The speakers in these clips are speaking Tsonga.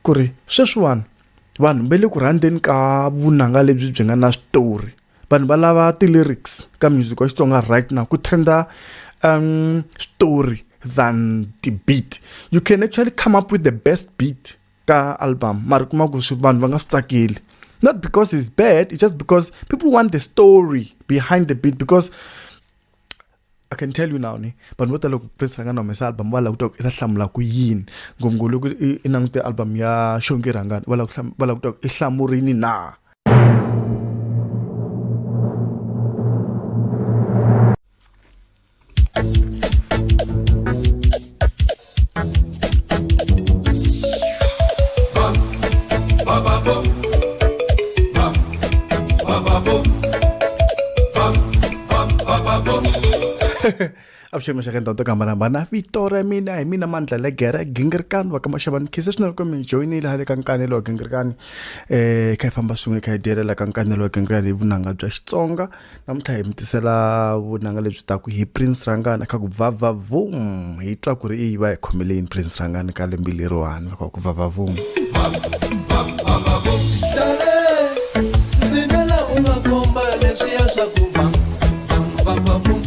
ku ri sweswiwani vanhu va le ku rhandzeni ka vunanga lebyi byi nga na switori vanhu va lava ti-lyrics ka music wa xitsonga right now ku trenda um story than ti-beat you can actually come up with the best beat ka album mara kuma ku swi vanhu va nga swi tsakeli not because it's bad it's just because people want the story behind the beat because i can tell you now ni vanhu vo tala loko prince ranga na humesa album va lava ku twa ku i ta hlamula ku yini ngopfungopfu loko i langute album ya xongi rhangani va lava ku twa ku i hlamurini na avuxeni maxaka ndhawu to ku hambanahambana vito ra mina hi mina mandla le gera gingirikani wa ka maxavani khisa swinene kumbe mi joyinile hale ka nkanelo wa gingirikani um kha hi famba swin'we kha hi dyelela ka nkanelo wa gingirikani hi vunanga bya xitsonga namuntlha hi mi tisela vunanga lebyi taku hi prince rangani kha ku vavavum hi twa ku ri i va hi khomele yini prince rangani ka lembi leriwani loko ku vavavum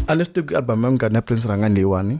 a leswi teku album ya munghana ya prince rangani leyiwani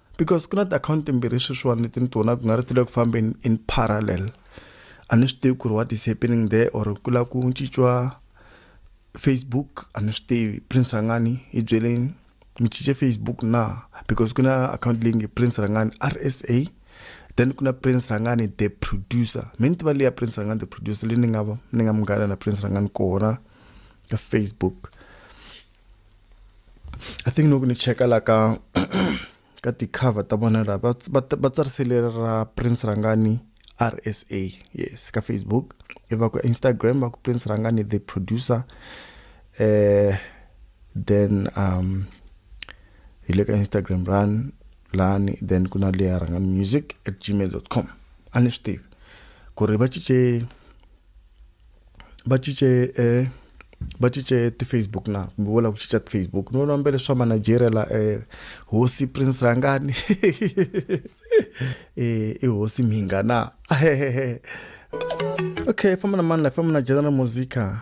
because ku na ti-account timbirhi sweswiwani leti ni ti vonaka ku nga ri ti le ku fambeni in parallel a ni swi tivi ku ri what is happening there or ku lava ku cinciwa facebook a ni swi tivi prince rangani hi byeleni mi cince facebook na because ku na account leyi nge prince rangani r s a then ku na prince rangani the producer mi ni tiva leyi ya prince rangani the producer leyi ni nga ni nga munghana na prince rangani kona ka facebook I think loko ni cheka la ka ka ti-cover ta vona la va va va tsarisele ra Prince Rhangani RSA yes ka Facebook i va ku Instagram va ku Prince Rhangani the producer eh then um hi le ka Instagram run lani then ku na leya Rhangani music at gmail.com a ni swi tivi ku ri va cince va cince eh, va cince ti-facebook na kumbe vo lava ku cinca ti-facebook ni vona mbele swa manigeria la eh, hosi prince rangani eh, i hosi mhinga na okay famba na mani la famba na general musica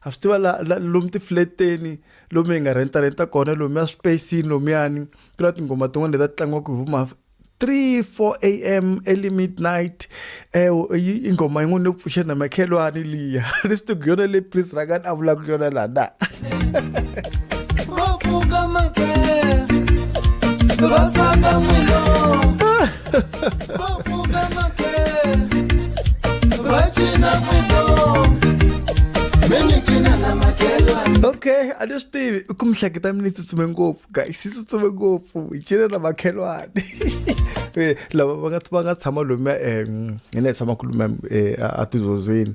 ha swi tiva la, la lomu tifleteni lomu hi nga renta renta kona lomu ya spacini lomuyani ku na tinghoma tin'wana leti ta tlangiwaka hi vuma 3 4 am early midnight eh ingoma yin'wana yo pfuxa na makhelwani liya ni swi tiku yona le pris rangani a vulaka yona la na va pfuka makhe va saka n'wina okay a ni swi tivi i ku mihleketa mi ni tsutsume ngopfu guys yi tsutsume ngopfu hi cine na makhelwani lava va nga va nga tshama lomuya um hi na hi tshama ku lomuya a tizodzweni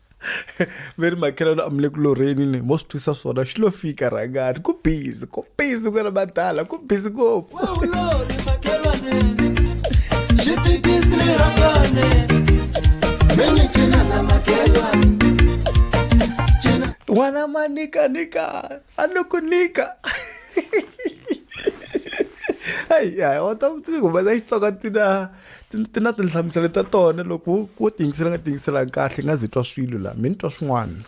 ve ri makhelwani a mi le ku lorheni ni mo swi twisa swona xi lo fika rhangani ku busy ku busy ku na madala ku busy ngopfu n'wana ma nika nika a ni ku nika hayi hayi wa ta ku humesa xitsonga tina ti ti na tinhlamuselo ta tona loko wo tiyingisela nga tiyingiselanga kahle nga zi twa swilo laha mi ni twa swin'wana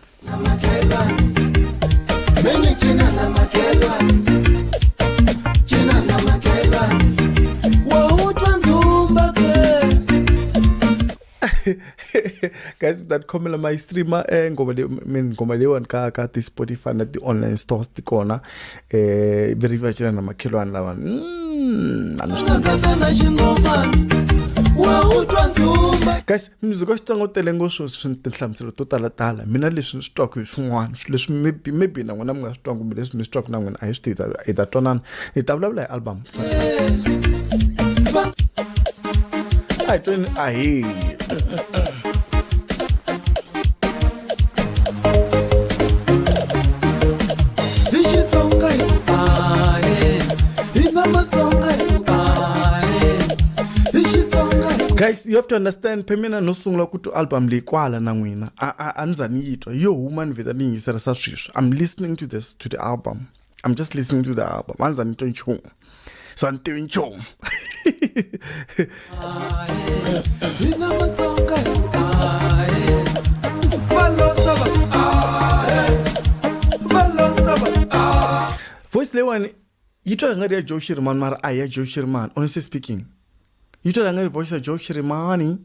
guys mi ta ti khomela ma yi streama eh, ngoma leyi ngoma leyiwani ka ka ti-spotify na ti-online stores ti kona Eh, veri vachira na makhelwani lawa Mm, a ni swi- katsa na xingomana wa wu twa ndzi humba guys music wa xitsonga wu tele ngopfu swi tinhlamuselo to talatala mina leswi ni swi twaka hi swin'wana swi- leswi maybe maybe na n'wina mi nga swi twangi kumbe leswi mi swi twaka na n'wina a hi swi tivi hi ta twanana hi ta vulavula hi album a hi tweni a hi hi xitsonga hi ku ahe hi na matsonga hi ku ahe hi xitsonga hi guys you have to understand phemina no sungula ku twa album leyi kwala na n'wina a a- a ni za ni yi twa yo huma ni vheta ni yingisela sa sweswi i'm listening to this to the album I'm just listening to the album. Manza nito nchumu. So I'm doing nchumu. Voice leyiwani yi twa hi nga ri ya joe shirman mara a hi ya joe shirman honestly speaking yi twa nga ri voice ya Joe Shirimani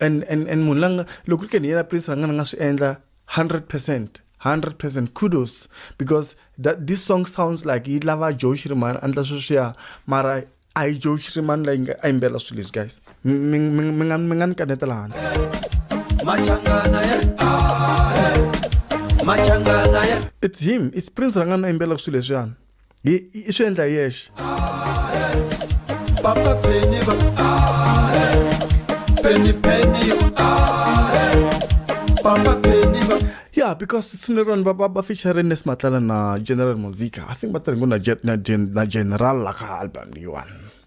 and and and munhu langa loko ri ke ni yena prince ranga ni nga swi endla 100% 100% kudos because that this song sounds like yi lava Joe Shirimani andla sweswiya mara a yi Joe Shirimani la yinga a yimbela swilo leswi guys mi mi mi nga mi nga ni kanetela handle machangana ya ah, machangana ya it's him it's prince ranga na yimbela swilo leswiyana hi i swi endla hi yexe papa peni va peni peni papa peni va yeah because sine rona ba ba featuring ne smatlala na general musica i think ba tirhe ngo na na general la ka album leyiwani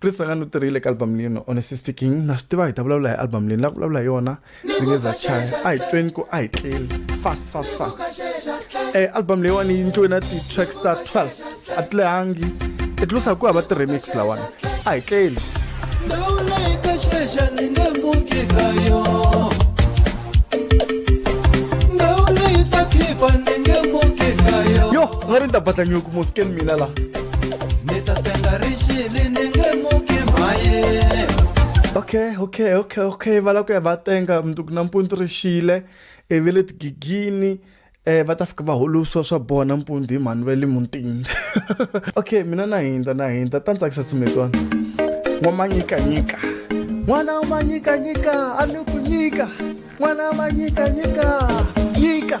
chris a nga ni tirhile ka album leyi no honestly speaking na swi tiva hi ta vulavula hi album leyi ni la ku vulavula hi yona ndzi nge za chaya a hi tweni ku a hi tleli fast fast fast e album leyiwani yi ndliwe na ti-tracks ta 12 a ti lehangi i tlusa hi ku hava ti-remix lawani a hi tleli yo nga ri ni ta batlanyuku mosken mina laha okay okay okay okay va lava ku ya va tenga mundzuku nampundzu ri xile i ve le tigigini um va ta fika va holosiwa swa bona mpundzu hi mhani va le muntini okay mina na hindza na hindza ta ni tsakisa simetwana n'wamanyikanyika n'wana wa manyikanyika a ni ku nyika n'wana wa manyikanyika nyika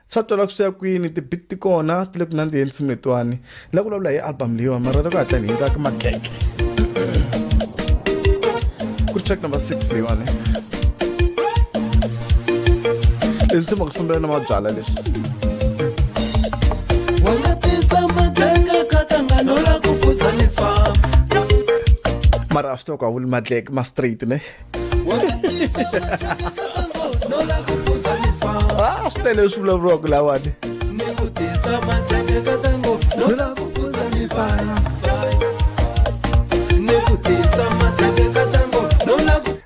swa twala ku swi ya kwini tibit ti kona ti le ku nandziheni simu letiwani la ku vulavula hi album leyiwani mara le ku hatla ni hindzaka matleke ku ri track number six leyiwani tinsimu ku fambela na mabyala leswi mara a swi to ku a vuli matleke ma straight ne ah swi tele swi vulavuriwaka lawani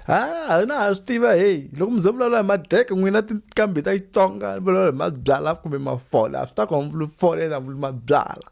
ha na ha swi tiva heyi loko mi ze vulavula hi madeke n'wina tinkambi ta xitsonga vulavula hi mabyala kumbe mafola a swi ta ku hamvuli fole na vuli mabyala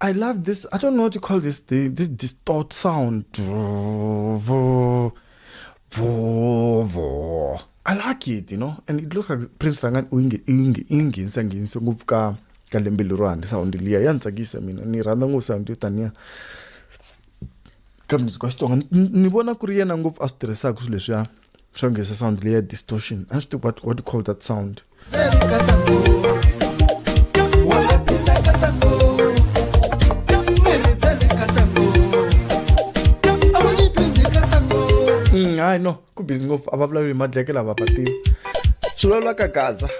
I love this. I don't know what to call this thing. This distort sound. I like it, you know. And it looks like Prince Rangan uingi ingi ingi nsanginso ngopfu ka ka lembe lerwani sound liya ya ni tsakisa mina ni rhandza ngopfu sound yo taniya ka music wa xitsonga ni vona ku ri yena ngopfu a swi tirhisaka swilo leswiya swa ngesa sound leyi ya distortion a swi tiva what, what you call that sound mm, hayi no ku busy ngopfu a va vulavuli hi madleke lava va tiva swi vulavula ka gaza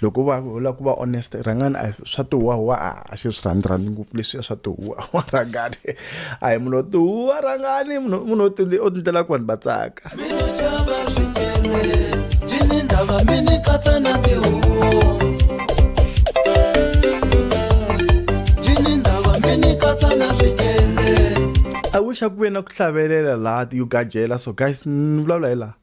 loko u va u lava ku va honest rhangani a swa tihuwahuwa a a xi swi rhandzi rhandzi ngopfu leswiya swa tihuwahuwa rhangani a hi munhu wo tihuwa rhangani munhu munhu o tindlela ku vanhu va tsaka I wish a ku ve na ku hlavelela laha ti-Uga jealous so guys ni vulavula hi laha.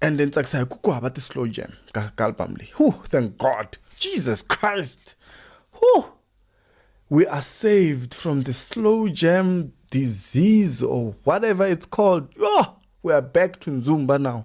and then tsakisa hi ku ku hava ti-slow jam ka ka album leyi hu thank god jesus christ hu we are saved from the slow jam disease or whatever it's called oh, we are back to nzumba now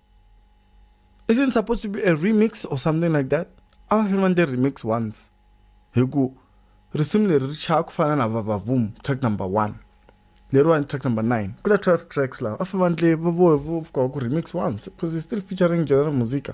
isn't it supposed to be a remix or something like that a va fanele va ndle remix once hi ku risimu leri ri chaya ku fana na vavavum track number one leriwani track number nine ku na twelve tracks lawa a fanele va ndle va voe vo fika ku remix once because it's still featuring general musica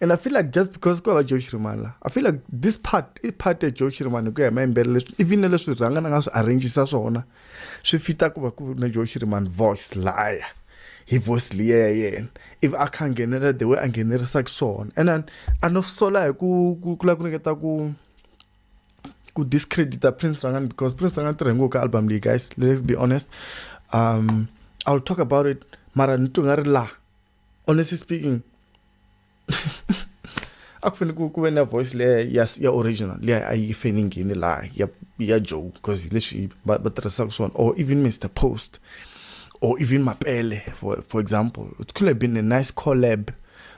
and i feel like just because ku va joe shirimani la i feel like this part i part ya joe shirimani hi ku ya hi mayimbele leswi even na leswi rhanga na nga swi arrangisa swona swi fita ku va ku na joe shirimani voice laya hi voice liya ya yena if a kha nghenelela the way a nghenerisaka swona and then a no sola hi ku ku lava ku ringeta ku ku discredita prince rangani because prince rangani tirhe ngopfu ka album leyi guys let's be honest um i'll talk about it mara ni twi nga ri laha honestly speaking a ku fanele ku ku ve na voice leya ya ya original leya a yi fanele yi nghene laha ya ya joe because leswi va va tirhisaka swona or even mr post or even mapele for for example it could have been a nice collab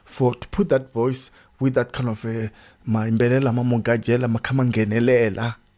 for to put that voice with that kind of a mayimbelela ma mo gajela ma kha ma nghenelela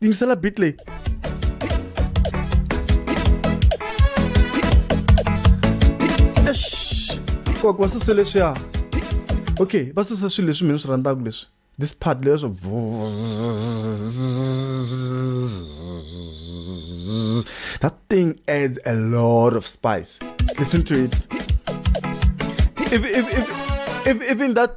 Tingisela beat leyi. Kokwa wa susa leswiya. Okay, va susa swilo leswi mina swi rhandzaka leswi. This part leyi swo That thing adds a lot of spice. Listen to it. If, if, if, if, even that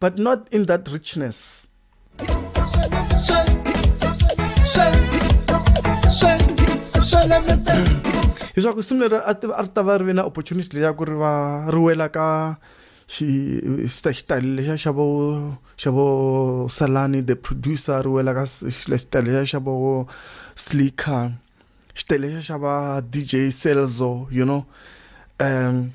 but not in that richness. leswaku simu leri a ri ta va ri ve na opportunity leyi ya ku ri va ri wela ka xitayele lexa xa vo xa vo salani the producer ri wela ka xitayele lexa xa vo slicker xitayele lexa xa va dj celzo you know um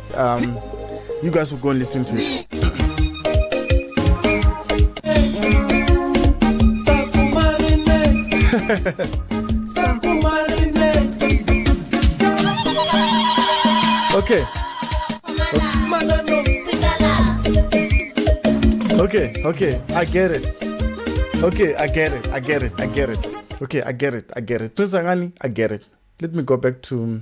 Um, you guys will go and listen to it. okay. Okay, okay, I get it. Okay, I get it. I get it. I get it. Okay, I get it. I get it. Prince Angani, I get it. Let me go back to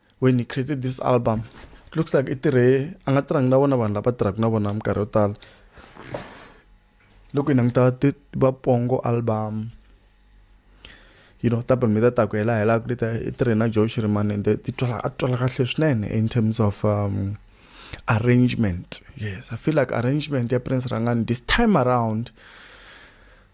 when he created this album it looks like i tirhe a nga tirhangi na vona vanhu lava tirhaka na vona minkarhi yo tala loko hi languta va pongo album you know ta album leta taku hela helaku leta i tirhe na joe shiriman and ti twala a twala kahle swinene in terms of um, arrangement yes i feel like arrangement ya prince rangani this time around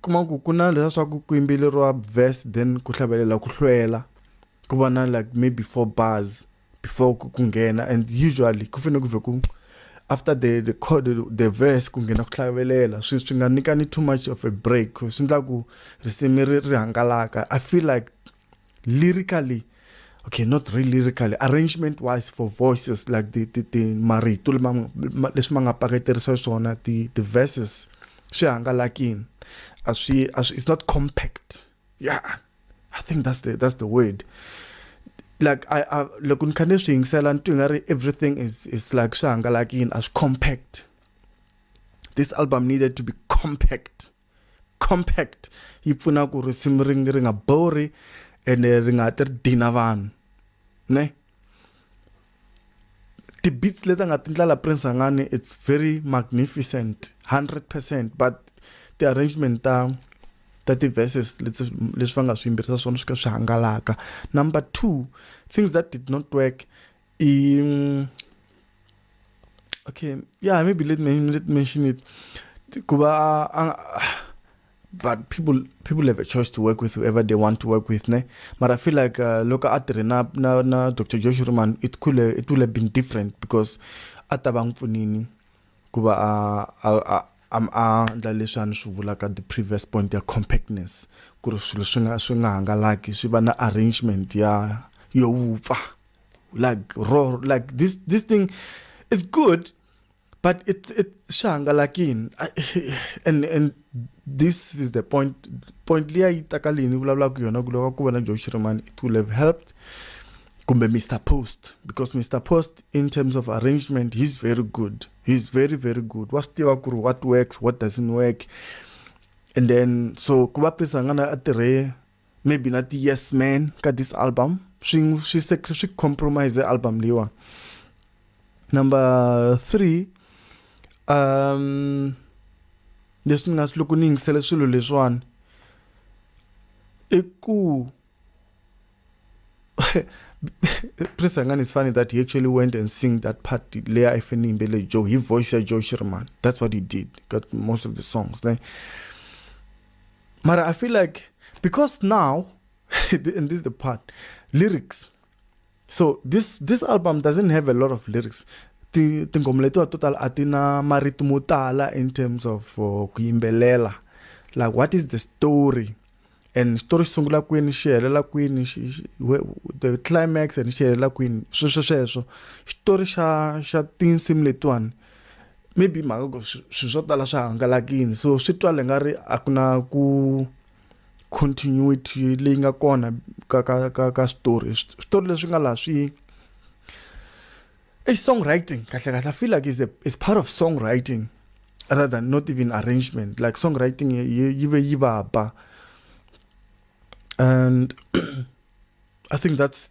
kuma ku ku na leswa swa ku ku yimbeleriwa verse then ku hlavelela ku hlwela ku va na like maybe four bars before ku ku nghena and usually ku fanele ku vhe ku after the the chord the verse ku nghena ku hlavelela swi swi nga nyikani too much of a break swi endla ku risimu ri ri hangalaka i feel like lyrically okay not really lyrically arrangement wise for voices like the the, the marito leswi ma nga paketerisa swona the the verses swi hangalakini a swi a swi it's not compact yeah i think that's the that's the word like i, I loko ni kha ni swi yingisela ni twi nga ri everything is is like swi hangalakini a swi compact this album needed to be compact compact yi pfuna ku risimu ri ri nga bori ene ri nga ti ri dina vanhu ne ti-beats leti a nga ti ndlala prince angani it's very magnificent 100 percent but ti-arrangement ta ta ti-verses leswi va nga swi yimbirisa swona swi ka swi hangalaka number two things that did not work He, um, okay, yeah, maybe let me let mention it. Kuba, uh, uh, but people people have a choice to work with whoever they want to work with, ne? But I feel like uh, look at na na na Dr. Joshua man, it could have, it would have been different because atabang funini kuba uh, uh, uh, am a ndla leswi a ni swi vulaka the previous point ya compactness ku ri swilo swi nga swi nga hangalaki swi va na arrangement ya yo vupfa like raw like this this thing is good but it's it's shangalakini and and this is the point point leyi a yi takalini vulavulaka yona ku lava ku vona joe shirman it will have helped kumbe mr post because mr post in terms of arrangement he's very good he's very very good wa swi tiva ku ri what works what doesn't work and then so ku va prisangana a tirhe maybe na ti-yes man ka this album swi swi swi compromise album leyiwa number three um leswi ni nga swi loko ni yingisele swilo leswiwani i ku Prince Angani is funny that he actually went and sing that part leya i fanele yimbele Joe hi voice ya Joe Shirimani that's what he did got most of the songs ne But I feel like because now, and this is the part, lyrics. So this this album doesn't have a lot of lyrics. The tinghoma letiwa to tala a ti na marito mo tala in terms of uh, ku yimbelela like what is the story and story xi sungula kwini xi helela kwini the climax and xi helela kwini sweswo sweswo xitori xa xa tinsimu letiwani maybe mhaka ku swi swo tala swi hangalakini so swi twale nga ri a ku na ku continuity leyi nga kona ka ka ka ka switori switori leswi nga laha swi i songwriting kahle kahle i feel like is a is part of songwriting rather than not even arrangement like songwriting yi ve yi vaba and i think that's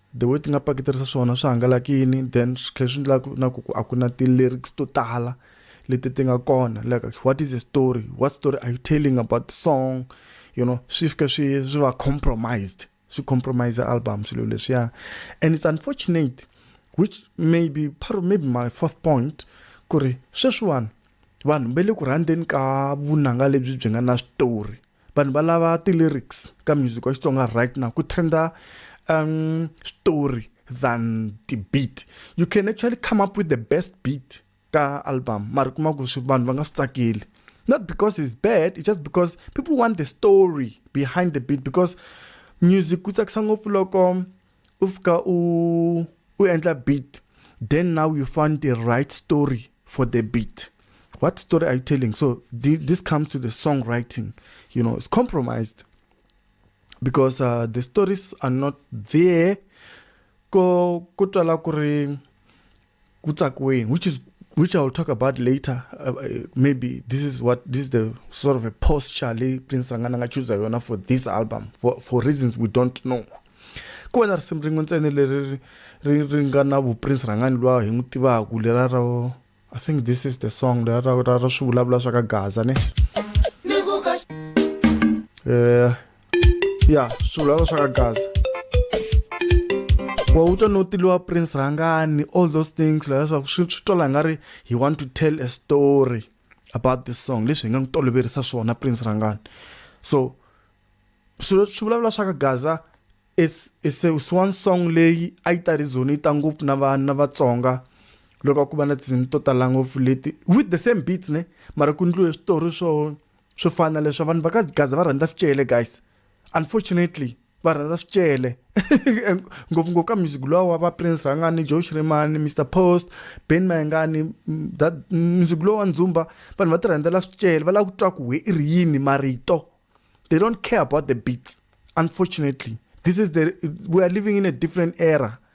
the way ti nga paketerisa swona swi hangalakini then swi tlhela swi endla ku na ku a ku na ti-lyrics to tala leti ti nga kona like what is the story what story are you telling about the song you know swi fika swi swi va compromised swi compromise album swilo leswiya and it's unfortunate which may be part of maybe my fourth point ku ri sweswiwani vanhu va le ku rhandzeni ka vunanga lebyi byi nga na switori vanhu va lava ti-lyrics ka music wa xitsonga right now ku trenda um story than ti-beat you can actually come up with the best beat ka album mari kuma ku swi vanhu va nga swi tsakeli not because it's bad it's just because people want the story behind the beat because music ku tsakisa ngopfu loko u fika u u endla beat then now you find the right story for the beat what story are you telling so th this comes to the songwriting you know it's compromised because uh, the stories are not there ko ko twala ku ri kutsakweni which is which i'll talk about later uh, uh, maybe this is what this is the sort of a posture leyi prince rangana nga chuza yona for this album for, for reasons we don't know ku va na risimu rin'we ntsene leri ri nga na vuprince rhangani luwa hi n'wi tivaku lera ra i think this is the song lera ra ra ra swi vulavula swa ka gaza ne um ya swilo lava swa ka gaza wa u twa no tiliwa prince rhangani all those things laha swa swi swi twala nga ri he want to tell a story about this song leswi hi nga n'wi toloverisa swona prince rhangani so swilo swi vulavula swa ka gaza is is is one song leyi a yi ta rizoni yi ta ngopfu na vanhu na vatsonga loko ku va na tinsimu to tala ngopfu leti with the same beats ne mara ku ndliwe switori swo swo fana na leswi vanhu va ka gaza va rhandza swicele guys unfortunately va rhandza swicele ngopfungopfu ka music lowa wa va prince rhangani joe shrimani mr post ben mayengani that music lowa wa ndzumba vanhu va ti rhandzela swicele va lava ku twa ku we i ri yini marito they don't care about the beats unfortunately this is the we are living in a different era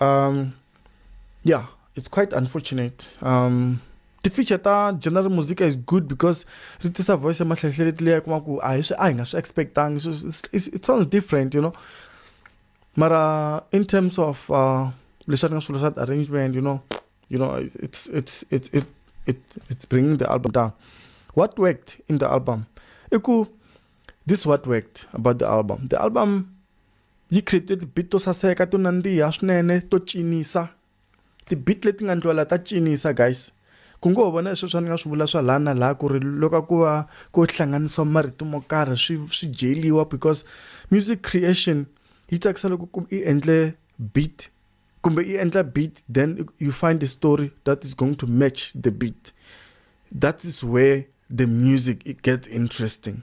Um, yeah, it's quite unfortunate. Um, ti-feature ta general musica is good because ri tisa voice ya mahlehleletli leyi kuma ku a hi swi a hi nga swi expectangi so it sounds different you know mara in terms of uh, leswi a ri nga swilo swa arrangement you know you know it's it's it it it it's bringing the album down what worked in the album i ku this what worked about the album the album Yi create-e ti-beat to saseka to nandziha swinene to cinisa ti-beat leti nga ndlula ta cinisa guys ku ngo ho va na hi sweswiya ni nga swi vula swa laha na laha ku ri loko ku va ku hlanganisiwa marito mo karhi swi swi dyeliwa because music creation yi tsakisa loko ku i endle beat kumbe i endla beat then you find a story that is going to match the beat that is where the music it gets interesting.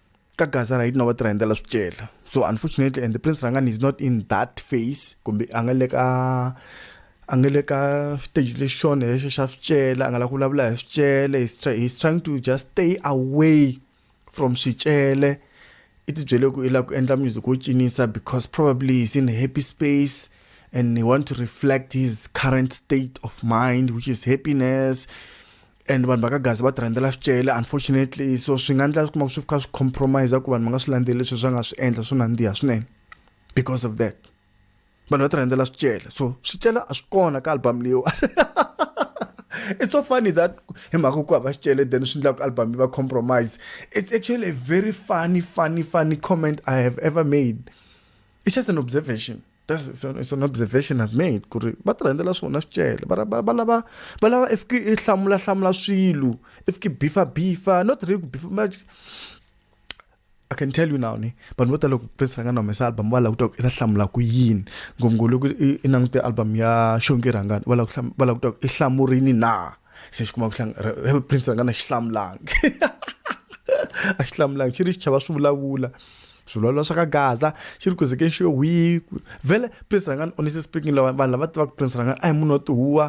ka gaza ra hina va tirha hi ndlela swicela so unfortunately and the prince rangani is not in that face kumbe a nga le ka a nga le ka stage lexi xona lexi xa swicela a nga la ku vulavula hi swicele he's trying to just stay away from swicele i tibyele ku i lava ku endla music wo cinisa because probably he's in a happy space and he want to reflect his current state of mind which is happiness and vanhu va ka gaza va ti rhandzela swicele unfortunately so swi nga endla kuma swi fika swi compromise ku vanhu va nga swi landzeleli leswi swa nga swi endla swo nandziha swinene because of that vanhu va ti rhandzela swicele so swicele a swi kona ka album leyiwa it's so funny that hi mhaka ku hava xicele then swi endlaku album yi va compromise it's actually a very funny funny funny comment i have ever made it's just an observation that's it's an observation i've made ku ri va ti rhandzela swona swicele va lava va lava if ki i hlamula hlamula swilo if ki bifa bifa not really ku bifa much I can tell you now ni vanhu vo tala loko prince ranga na humesa album va lava ku twa ku i ta hlamula ku yini ngopfungopfu loko i langute album ya xongi rhangani va lava ku va lava ku twa ku i hlamurini na se xi kuma ku hlanga prince a nga na xi hlamulangi a xi hlamulangi xi ri xi chava swi vulavula swivulavula swa ka gaza xi ri kuzekeni xi yo hwi vhele prince rangani honestly speaking lava vanhu lava tivaka prince rangani a hi munhu wa tihuwa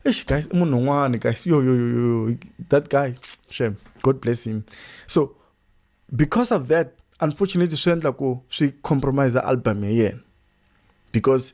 eish guys i munhu un'wana guys yo yo yo yo that guy shem god bless him so because of that unfortunately swi endla ku swi compromise album ya yena because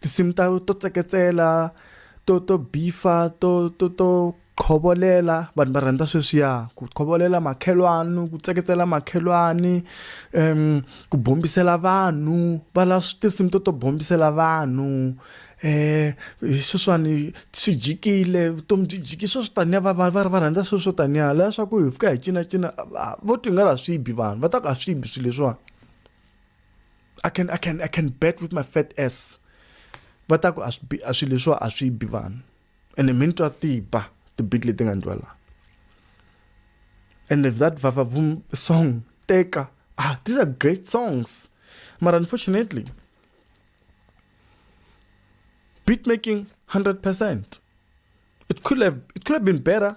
tinsimu ta to tseketsela to to bifa to to to khovolela vanhu va rhandza sweswiya ku khovolela makhelwani ku tseketsela makhelwani um ku bombisela vanhu va la tinsimu to to bombisela vanhu um sweswiwani swi jikile vutomi byi jiki swo swi taniya va va va va rhandza swilo swo taniya laha swa ku hi fika hi cinacina vo ti nga ri a swi bi vanhu va ta ku a swi bi swilo leswiwani. i can i can i can bet with my fat ass va ta ku a swi a swilo leswiwa a swi bi vanhu ene mi ni twa tiba tibit leti nga ndlwa laha and if that vavavum song teka ah these are great songs but unfortunately beat making 100% it could have it could have been better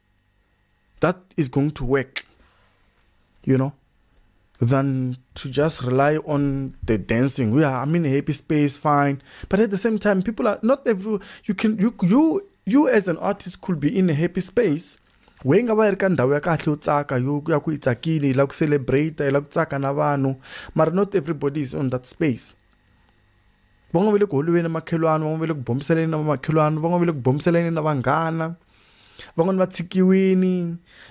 that is going to work, you know, than to just rely on the dancing. We are, I'm in a happy space, fine. But at the same time, people are not every, you can, you, you, you as an artist could be in a happy space we nga va yi ri ka ndhawu ya kahle yo tsaka yo ya ku yi tsakile yi lava ku celebrate yi lava ku tsaka na vanhu mara not everybody is on that space van'wana va le ku holweni makhelwani van'wana va le ku bombiseleni na vamakhelwani van'wana va le ku bombiseleni na vanghana van'wani va tshikiwini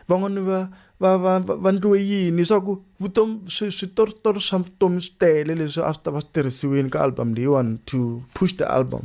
van'wani va va va va ndliwe yini swa ku vutomi swi switoritori swa vutomi swi tele leswi a swi ta va swi tirhisiwini ka album leyiwani to push the album.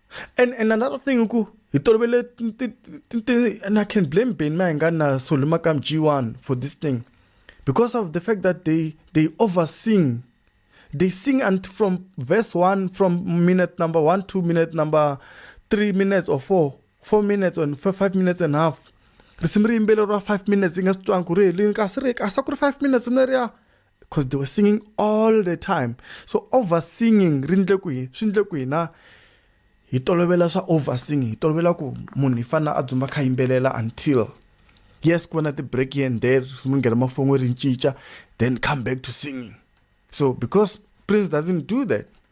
And and another thing ku hi tolovele and I can blame Ben Mayengana Solumakam G1 for this thing because of the fact that they they oversing they sing and from verse 1 from minute number 1 to minute number 3 minutes or 4 4 minutes and 5 minutes and a half risimu ri yimbele ra 5 minutes yi nga swi twanga ku ri helini kasi ri kasi a ku ri 5 minutes mina ri ya because they were singing all the time so over singing ri ndle kwihi swi ndle kwihi na hi tolovela swa over singing hi tolovela ku munhu hi fanele a dzumba kha yimbelela until yes ku va na ti-break here and there mi nghena mafon'we ri cinca then come back to singing so because prince doesn't do that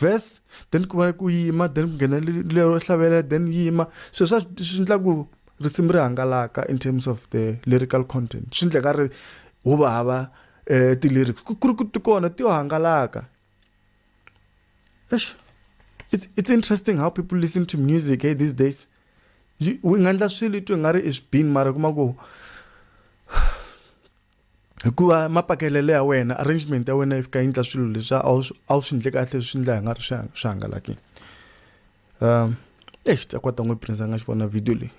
verse then ku va ku yima then ku nghena lero hlavelela then yima so swa swi endla ku risimu ri hangalaka in terms of the lyrical content swi endleka ri hu va hava um ti-lyrics ku ri ku ti kona ti yo hangalaka eish it's, it's interesting how people listen to music hey, eh, these days u nga endla swilo i twe nga ri i swibini mara kuma ku Hikuva mapakelelo ya wena arrangement ya wena yi fika yi endla swilo leswi a wu a wu swi ndle kahle leswi ndla hi nga ri swi swi hangalakile um eish ta kwata n'wi prince a nga xi vona video leyi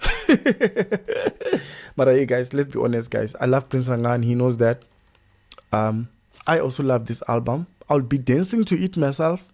mara hey guys let's be honest guys i love prince rangani he knows that um i also love this album i'll be dancing to it myself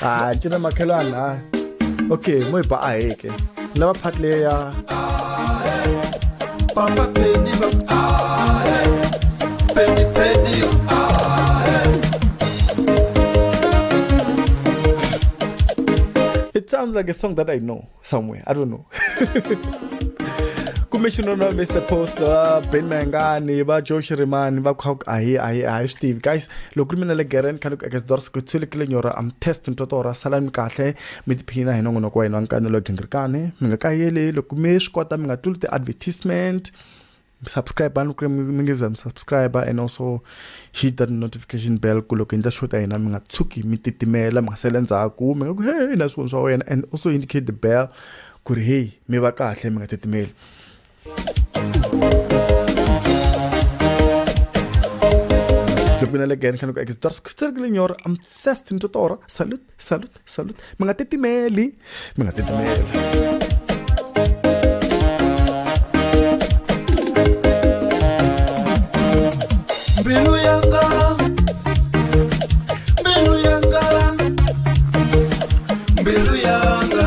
hayi cina makhelwana hayi okay moyiba aheke lava phati leya papa peni va peni peni It sounds like a song that I know. somewhere i don't know kumbe xinona mr post va ben mangani va joe xirimani va kha a hi a hi a hi swi tivi guys loko ri mina le geren khani ku ekesdors ku tshilikile nyora am test nto to ra sala mi kahle mi tiphina hi nongonoko wa hina wa nkanelo gingirikani mi nga kayeli loko mi swi kota mi nga tluli ti-advertisement subscribe ni ku mi nge za mi subscribe and also hit that notification bell ku loko hi endla show ta hina mi nga tshuki mi titimela mi nga sele ndzhaku mi nga ku hey na swivoni swa wena and also indicate the bell ku ri hey mi va kahle mi nga titimeli Club Minalegan, Kanuka X. Dorsk, Sterglinyor, I'm Thestin Totora. Salut. salut salut mi nga titimeli mi nga titimeli mbilu yanga mbilu yanga mbilu yanga